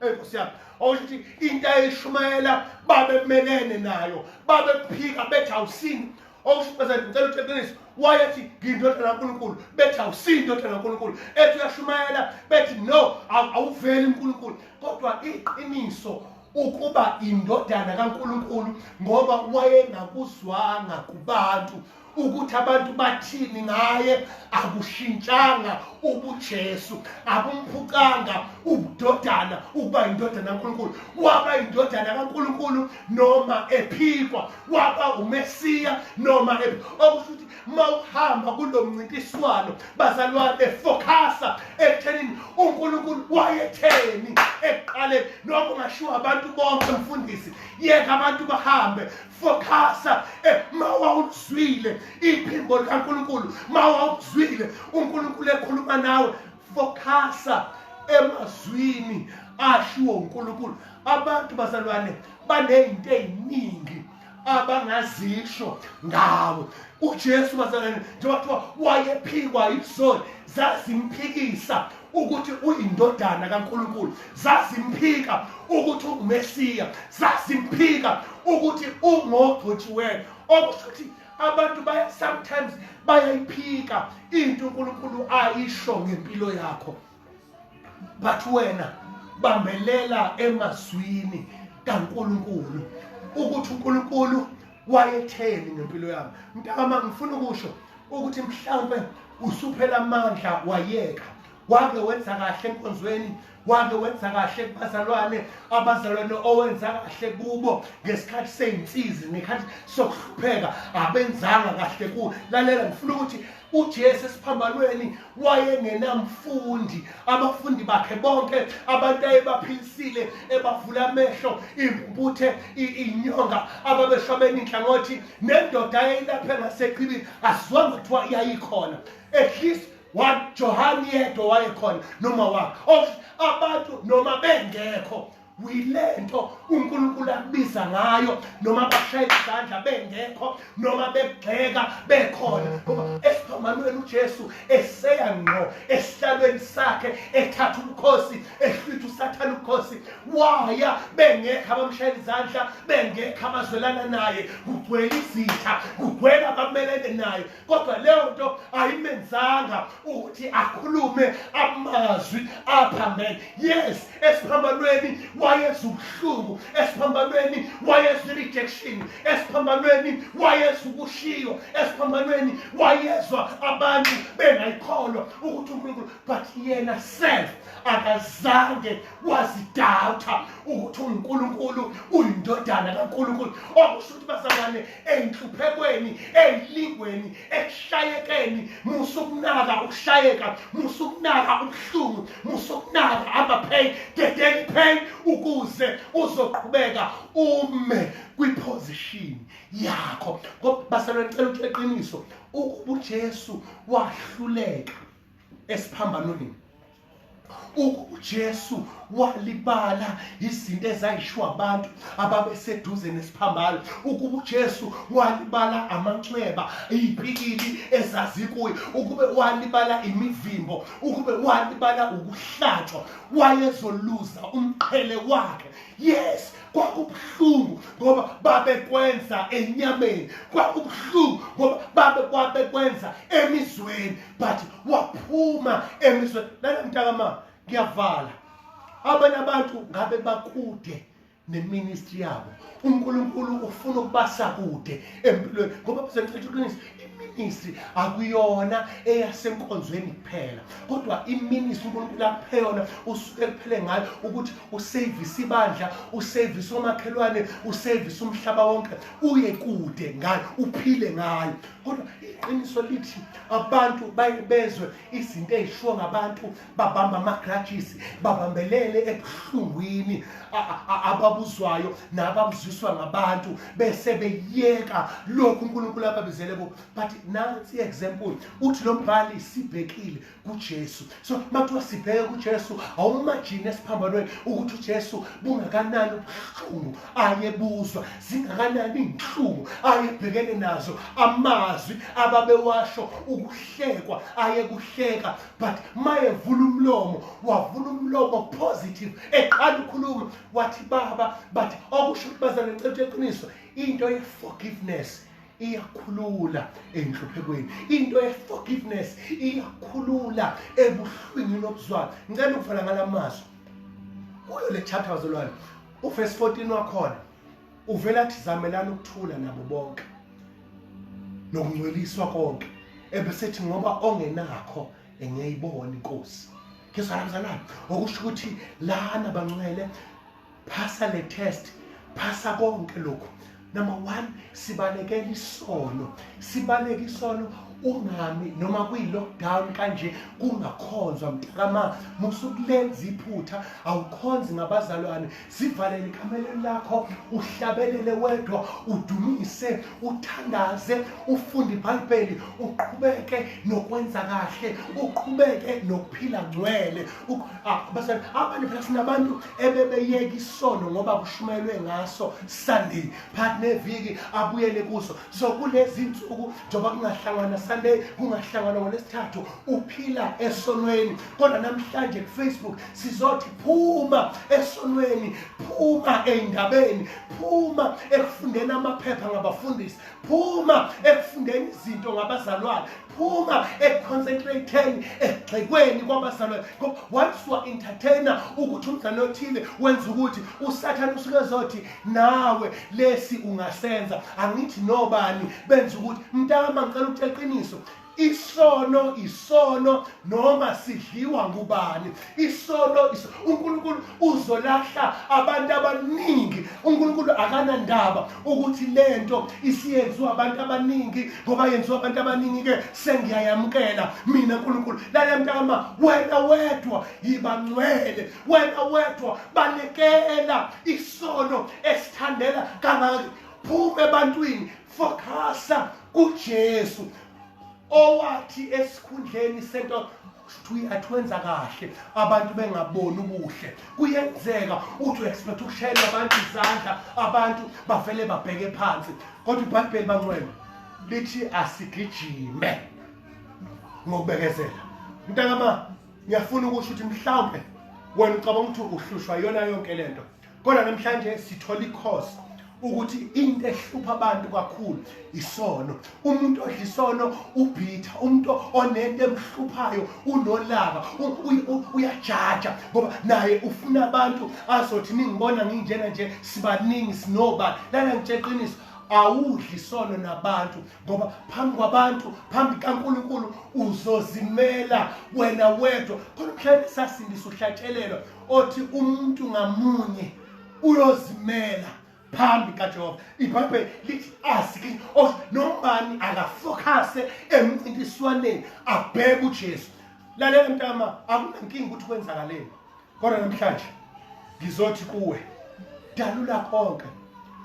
enkosi yami okusho ukuthi into ayishumayela babemelene nayo babephika bethi awusini okusho ukuthi ngicela uqiniso wayethi ngiyindodana kaNkulunkulu bethi awusiyi indodana kaNkulunkulu ethi uyashumayela bethi no awuveli uNkulunkulu kodwa iqiniso ukuba indodana kaNkulunkulu ngoba wayengakuzwanga kubantu ukuthi abantu bathini ngaye akushintshanga ubujesu akumphucanga ubudodana ukuba indodana kaNkuluNkulu waba indodana kaNkuluNkulu noma ephikwa waba umesiya noma okusho ukuthi mawuhamba kulomncintiswano bazalwane focasa ekuthenini uNkuluNkulu wayetheni ekuqaleni noma ungashiwa abantu bonke mfundisi yeka abantu bahambe focusa eh, ma wawuzwile iphimbo likaNkuluNkulu ma wawuzwile uNkuluNkulu ekhuluma nawe focusa emazwini ashiwo uNkulunkulu abantu bazalwane banezinto eziningi abangazisho ngawo uJesu bazalwane njengoba kuthiwa wayephikwa izoni zazimphikisa ukuthi uyindodana kaNkuluNkulu zazimphika ukuthi ungumesiya zazimphika ukuthi ungogcotshiweyo okusho ukuthi abantu baya sometimes bayayiphika into uNkulunkulu ayisho ngempilo yakho but wena bambelela emazwini kaNkuluNkulu ukuthi uNkulunkulu wayetheni ngempilo yami mntama ngifuna ukusho ukuthi mhlawumbe usuphela amandla wayeka wake wenza kahle enkonzweni wake wenza kahle kubazalwane abazalwane owenza kahle kubo ngesikhathi seyinsizi nekhathi sokuhlupheka abenzanga kahle ku lalela ngifuna ukuthi uJesu esiphambanweni wayengenamfundi abafundi bakhe bonke abantu ayebaphilisile ebavula amehlo impumputhe inyonga ababeshwabeni inhlangothi nendoda ayeyilaphe ngaseqhibini asizwanga kuthiwa yayikhona at least one johane yedwa wayekhona noma wakhe of abantu noma bengekho yilento uNkulunkulu akubiza ngayo noma bashayela izandla bengekho noma begxeka bekhona ngoba esiphambanweni uJesu eseya ngqo esihlalweni sakhe ethatha ubukhosi ehlwitha usathana ubukhosi waya bengekho abamshayela izandla bengekho abazwelana naye kugcwele izitha kugcwele abamelene naye kodwa leyo nto ayimenzanga ukuthi akhulume amazwi aphambene yes esiphambanweni wayeza ubuhlungu esiphambanweni wayeza i-rejection esiphambanweni wayeza ukushiywa esiphambanweni wayezwa abantu bengayikholwa ukuthi unkulunkulu but yena self akazange wazidawutha ukuthi unkulunkulu uyindodana kankulunkulu okusho ukuthi bazalwane ey'nhluphekweni ey'lingweni ekushayekeni musa ukunaka ukushayeka musa ukunaka ubuhlungu musa ukunaka ama-pain dedela i-pain ukuze uzoqhubeka ume kwiphozishini yakho ngoba basalweni cela ukuthi eqiniso ukuba ujesu wahluleka esiphambanweni uJesu walibala izinto ezayishiwa abantu ababeseduze nesiphambano ukuba uJesu walibala amanxeba izipikili ezazikuye ukube walibala imivimbo ukube walibala ukuhlatshwa wayezoluza umqhele wakhe yes kwakubuhlungu ngoba babekwenza enyameni kwakubuhlungu ngoba babekwenza emizweni but waphuma emizweni lana mntakama ngiyavala abanye abantu ngabe bakude neministry yabo uNkulunkulu ufuna ukubasa kude empilweni ngoba kusenhlithu qiniso iministry akuyona eyasenkonzweni kuphela kodwa iministry uNkulunkulu akupheyona usuke kuphele ngayo ukuthi usavise ibandla usavise omakhelwane usavise umhlaba wonke uye kude ngayo uphile ngayo kodwa iqiniso lithi abantu bezwe izinto ezishiwo ngabantu babamba amagrajisi babambelele ebuhlungwini ababuzwayo nababuziswa ngabantu bese beyeka lokhu uNkulunkulu ababizele ko but nansi example uthi lo mbhali sibhekile kuJesu so makuthiwa sibheke kuJesu awumajini esiphambanweni ukuthi uJesu bungakanani ubuhlungu ayebuzwa zingakanani izinhlungu ayebhekene nazo amazwi ababewasho ukuhlekwa ayekuhleka but mayevula umlomo wavula umlomo positive eqala ukhuluma wathi baba but okusho ukuthi bazane ngicela iqiniso into ye forgiveness iyakhulula enhluphekweni into ye-forgiveness iyakhulula ebuhlwingini obuzwayo ngicela ukuvala ngala mazwi kuyo le chapter wazolwane uvesi 14 wakhona uvela athi zamelani ukuthula nabo bonke nokungcweliswa konke ebesethi ngoba ongenakho engeyibona inkosi ngizwa namzalwane okusho ukuthi lana bancele phasa le test phasa konke lokhu number one sibalekela isono sibaleka isono ungami noma kwi-lockdown kanje kungakhonzwa mntakama musukulenza iphutha awukhonzi ngabazalwane zivalele ekameleni lakho uhlabelele wedwa udumise uthandaze ufunde ibhayibheli uqhubeke nokwenza kahle uqhubeke nokuphila ngcwele abanye phela sinabantu ebebeyeka isono ngoba kushumayelwe ngaso sunday phakathi neviki abuyele kuso so kulezi nsuku njengoba kungahlangana sunday kungahlangana ngolesithathu uphila esonweni kodwa namhlanje kufacebook sizothi phuma esonweni phuma ey'ndabeni phuma ekufundeni amaphepha ngabafundisi phuma ekufundeni izinto ngabazalwane phuma ekuconcentratheni egxekweni kwabazalwane once wa-entertaina ukuthi umzalwane othile wenza ukuthi usathane usuke zothi nawe lesi ungasenza angithi nobani benza ukuthi mntama ngicela ukutshela iqiniso isono isono noma sidliwa ngubani isono iso uNkulunkulu uzolahla abantu abaningi uNkulunkulu akanandaba ukuthi lento isiyenziwa abantu abaningi ngoba yenziwa abantu abaningi ke sengiyayamkela mina uNkulunkulu lale mntama wena wedwa yibangcwele wena wedwa balekela isono esithandela kangaka phuma ebantwini focusa kuJesu owathi esikhundleni sento Shuthi atwenza kahle abantu bengaboni ubuhle. Kuyenzeka uthi uexpect ukushayela abantu izandla abantu bavele babheke phansi. Kodwa iBhayibheli bangcwele lithi asigijime ngokubekezela. Mntakama ngiyafuna ukusho ukuthi mhlawumbe wena ucabanga ukuthi uhlushwa yona yonke lento. kodwa namhlanje sithola ikhosi ukuthi into ehlupha abantu kakhulu isono umuntu odla isono ubhitha umuntu onento emhluphayo unolaka uyajaja ngoba naye ufuna abantu azothi ningibona nginjena nje sibaningi sinoba lana ngitsheqiniso awudli isono nabantu ngoba phambi kwabantu phambi kaNkuluNkulu uzozimela wena wedwa khona mhlawumbe sasindisa uhlatshelelwa othi umuntu ngamunye uyozimela phambi kaJehova ibhayibheli lithi asike of nobani akafocuse emncintiswaneni abheke uJesu lalela mntama akunankinga ukuthi kwenzakaleni kodwa namhlanje ngizothi kuwe dalula konke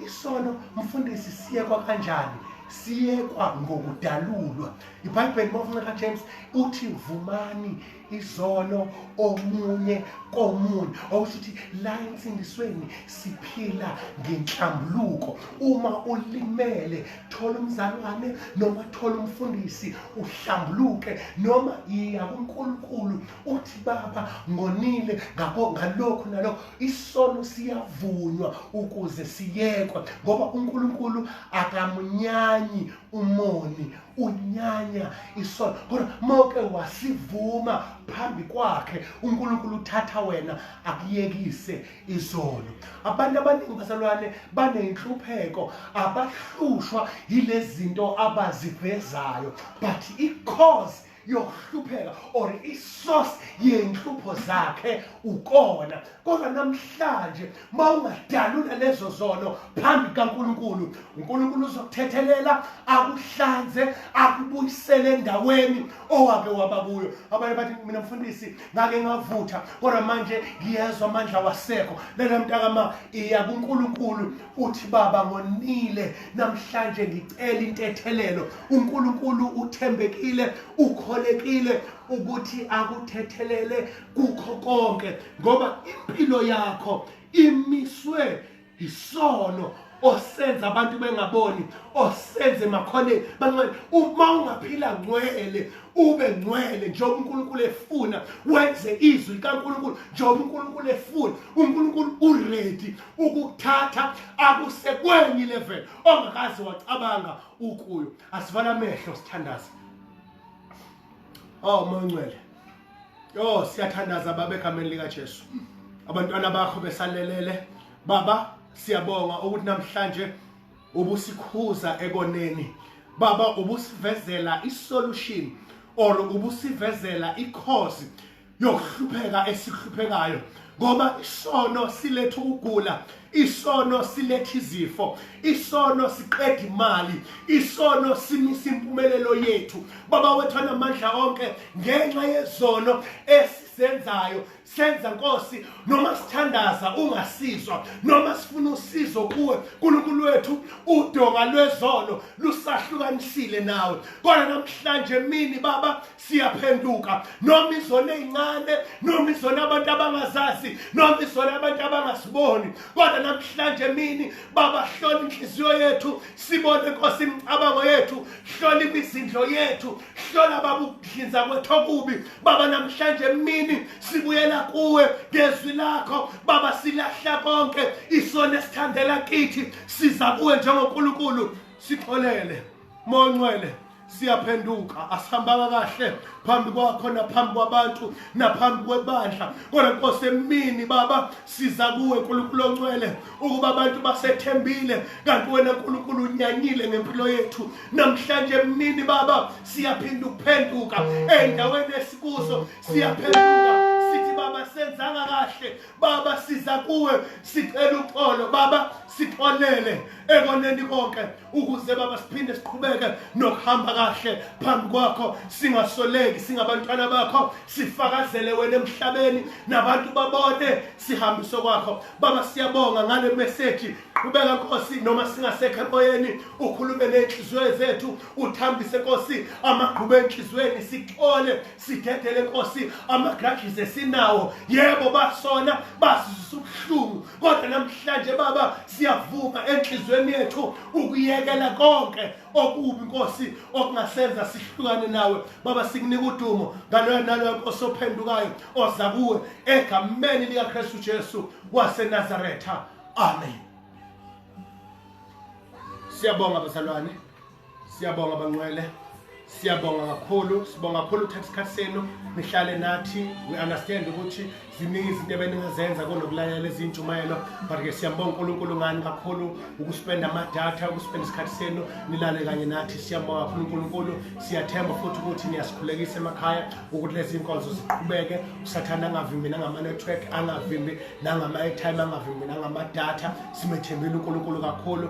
isono mfundisi siyekwa kanjani siyekwa ngokudalulwa ibhayibheli mawufuneka James uthi vumani izolo omunye komunye okusho ukuthi la ensindisweni siphila ngenhlambuluko uma ulimele thola umzalwane noma thola umfundisi uhlambuluke noma yiya kuNkulunkulu uthi baba ngonile ngakho ngalokho nalokho isono siyavunywa ukuze siyekwe ngoba uNkulunkulu akamunyanyi umoni unyanya isono kodwa mawuke wasivuma phambi kwakhe unkulunkulu uthatha wena akuyekise izono abantu abaningi bazalwane banenhlupheko abahlushwa yilezinto abazivezayo but icause yokuhlupheka or isource yenhlupho zakhe ukona kodwa namhlanje mawungadalula lezo zono phambi kaNkuluNkulu uNkuluNkulu uzokuthethelela akuhlanze akubuyisele endaweni owake waba kuyo abanye bathi mina mfundisi ngake ngavutha kodwa manje ngiyezwa amandla wasekho lena mntakama iya kuNkuluNkulu uthi baba ngonile namhlanje ngicela intethelelo uNkulunkulu uthembekile ukholekile ukuthi akuthethelele kukho konke ngoba impilo yakho imiswe isono osenza abantu bengaboni osenze makhone bancane uma ungaphila ngcwele ube ngcwele njengoba uNkulunkulu efuna wenze izwi likaNkulunkulu njengoba uNkulunkulu efuna uNkulunkulu uready ukuthatha akusekwenye level ongakaze wacabanga ukuyo asivale amehlo sithandaze oh moya ongcwele yo siyathandaza baba egameni likaJesu abantwana bakho besalelele baba siyabonga ukuthi namhlanje ubusikhuza ekoneni baba ubusivezela isolution or ubusivezela ikhozi yokuhlupheka esihluphekayo ngoba isono siletha ukugula isono siletha izifo isono siqeda imali isono simisa impumelelo yethu baba wethu anamandla onke ngenxa yezono esizenzayo senza nkosi noma sithandaza ungasizwa noma sifuna usizo kuwe nkulunkulu wethu udonga lwezono lusahlukanisile nawe kodwa namhlanje mini baba siyaphenduka noma izona ezincane noma izona abantu abangazazi noma izona abantu abangasiboni kodwa namhlanje emini baba hlola inhliziyo yethu sibone nkosi imicabango yethu hlola imizindlo yethu hlola baba ukuhlinza kwethu okubi baba namhlanje emini sibuyela kuwe ngezwi lakho baba silahla konke isona esithandela kithi siza kuwe njengonkulunkulu sixolele Monqwele siyaphenduka asihambanga kahle phambi kwakho naphambi kwabantu naphambi kwebandla kodwa nkosi emini baba siza kuwe nkulunkulu oncwele ukuba abantu basethembile kanti wena nkulunkulu unyanyile ngempilo yethu namhlanje emnini baba siyaphinda ukuphenduka ey'ndaweni esikuzo siyaphenduka sithi baba senzanga kahle baba siza kuwe sicela uxolo baba sixolele ekoneni konke ukuze baba siphinde siqhubeke nokuhamba kahle phambi kwakho singasoleki singabantwana bakho sifakazele wena emhlabeni nabantu babone sihambiso kwakho baba siyabonga ngale message qhubeka nkosi noma singasekho emoyeni ukhulume nenhliziyo zethu uthambise nkosi amagqubu enhliziyweni sithole sidedele nkosi amagrudges esinawo yebo basona basizisa ubuhlungu kodwa namhlanje baba siyavuma enhlizweni yethu ukuyekela konke okubi nkosi okungasenza sihlukane nawe baba sikunika udumo ngaloyo naloyo nkosi ophendukayo oza kuwe egameni likakristu jesu wasenazaretha amen siyabonga bazalwane Siyabonga bangcwele. Siyabonga kakhulu, sibonga kakhulu ukuthatha isikhathi senu nihlale nathi. We understand ukuthi ziningi izinto ebeningazenza konokulalela ezintshumayelo but ke siyambonga uNkulunkulu ngani kakhulu ukuspenda amadatha, ukuspenda isikhathi senu nilale kanye nathi. Siyabonga kakhulu uNkulunkulu. Siyathemba futhi ukuthi niyasikhulekisa emakhaya ukuthi lezi inkonzo ziqhubeke. Usathana angavimbi nangama network, angavimbi nangama airtime, angavimbi nangama data. Simethembile uNkulunkulu kakhulu.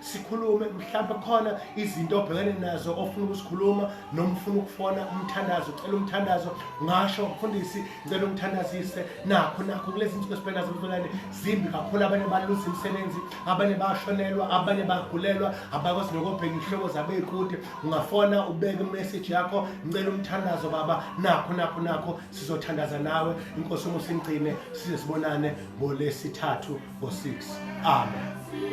sikhulume mhlawumbe khona izinto obhekene nazo ofuna ukuzikhuluma noma ufuna ukufona umthandazo ucela umthandazo ngasho mfundisi ngicela umthandazise nakho nakho kulezi nsuku esibhekena zomvelane zimbi kakhulu abanye baluza imisebenzi abanye bashonelwa abanye bagulelwa abakwazi nokobheka ihloko zabeyikude ungafona ubeke imeseji yakho ngicela umthandazo baba nakho nakho nakho sizothandaza nawe inkosi umusa ingcine size sibonane ngolesithathu ngo-6 amen